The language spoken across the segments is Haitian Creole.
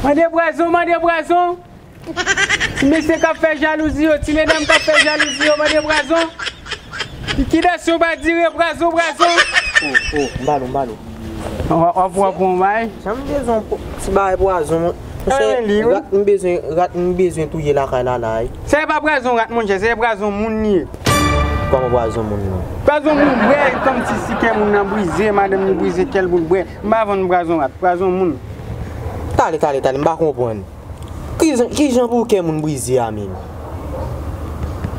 Mande bwazon mande bwazon Ti mesye kap fè jalouzi yo Ti medam kap fè jalouzi yo mande bwazon Likidasyon pa dire bwazon bwazon Oh oh mbalo mbalo Wap wè bon bagay Janm bezwen ti bagay bwazon mwen Rat m bezwen rat m bezwen touye lakay la la wi Sa e pa bwazon rat monchè se bwazon moun li ye Koman bwazon moun non Bwazon moun brè kòmsi si kè moun nan brize madanm li brize kèl boul brè M pa vann prazon rat, prazon moun. Tale tale tale m pa konprann kijan pou kè moun brize a menm.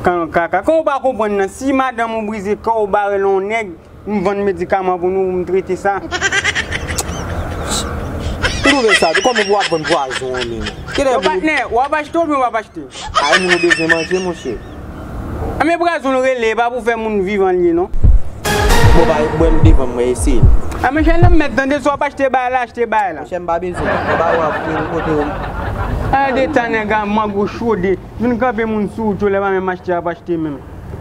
Kan kaka kan ou pa konprann nan si madanm ou brize kè ou bare l on nèg m vann medikaman pou nou m trete sa. Ou twouve sa tou kòman pou wap vann pwazon an menm. Yo patnè wap achte oubyen wap achte. Ay moun ou bezwen manje monche. Anmè brazon l rele e pa pou fè moun vivan l ye non. Bon ba bwèm devanm mwen eseye l. A men chè lanmèd tande si wap achte bay la achte bay la. Monchè m pa bezwen l e ba ou ap vin kote w. Ala de tan nèg a mang ou chode vin kanpe moun sou wout yo lè pa menm achte yap achte menm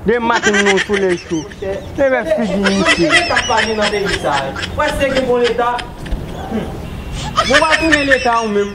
de maten nan yon solèy cho e wè figi misye. Monchè leta pa gen nan peyi sa. Ou pa si te gen bon leta humm. Bon ou pa tounen leta ou menm.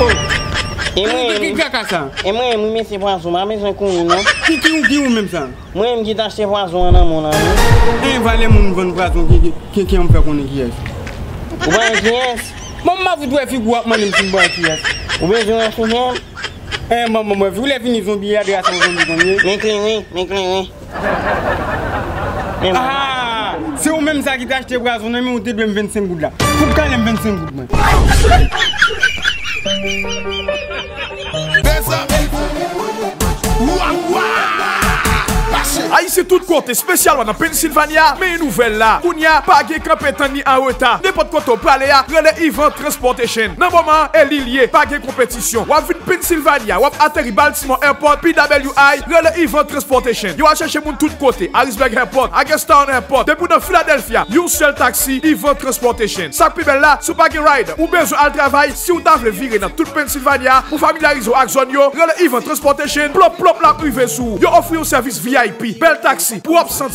Oh An nou fè ki kaka sa. E mwen menm wi mesye pwazon pa bezwen kouri non. Ki ki ou ki ou menm sa. Mwen menm ki t achte pwazon an nan mou lan wi. Hein valè moun vann pwazon ki an m fè konnen kiyès. Ou pa gen kiyès. Bon m pa fout wè figou wap mande m si m pa wè kiyès. Ou bezwen wè figem. Hein banm wè figou lè fini zonbi a de a se yon zonbi konn ye. Men kleren men kleren. Ahaa! Se ou menm sa ki te achte pwazon nan men ou te dwe m 25 goud la. Fout kale m 25 goud mwen. Mezanmi! Wawaa! Ayisyen tout kote, spesyalman nan Pennsylvania, men yon nouvèl la. Kounye a, pa gen kanpe tann ni anreta. Nenpòt kote ou prale a, rele Yvan Transportation. Nan moman an, e li l ye, pa gen konpetisyon. Distribisyon. Wap vin Pennsylvania, wap ateri Baltimore Airport, PWI, rele Event Transportation. Yo al chèche moun tout kote, Harrisburg Airport, Hagerstown Airport. Depi w nan Philadelphia, yon sèl taksi, Event Transportation. Sak pi bèl la, si w pa gen ride, ou bezwen al travay, si w ta vle vire nan tout Pennsylvania pou familyarize w ak zòn yo, rele Event Transportation, plop plop lap rive sou ou. Yo ofri yon sèvis vip, bèl taksi, pou w ap santi.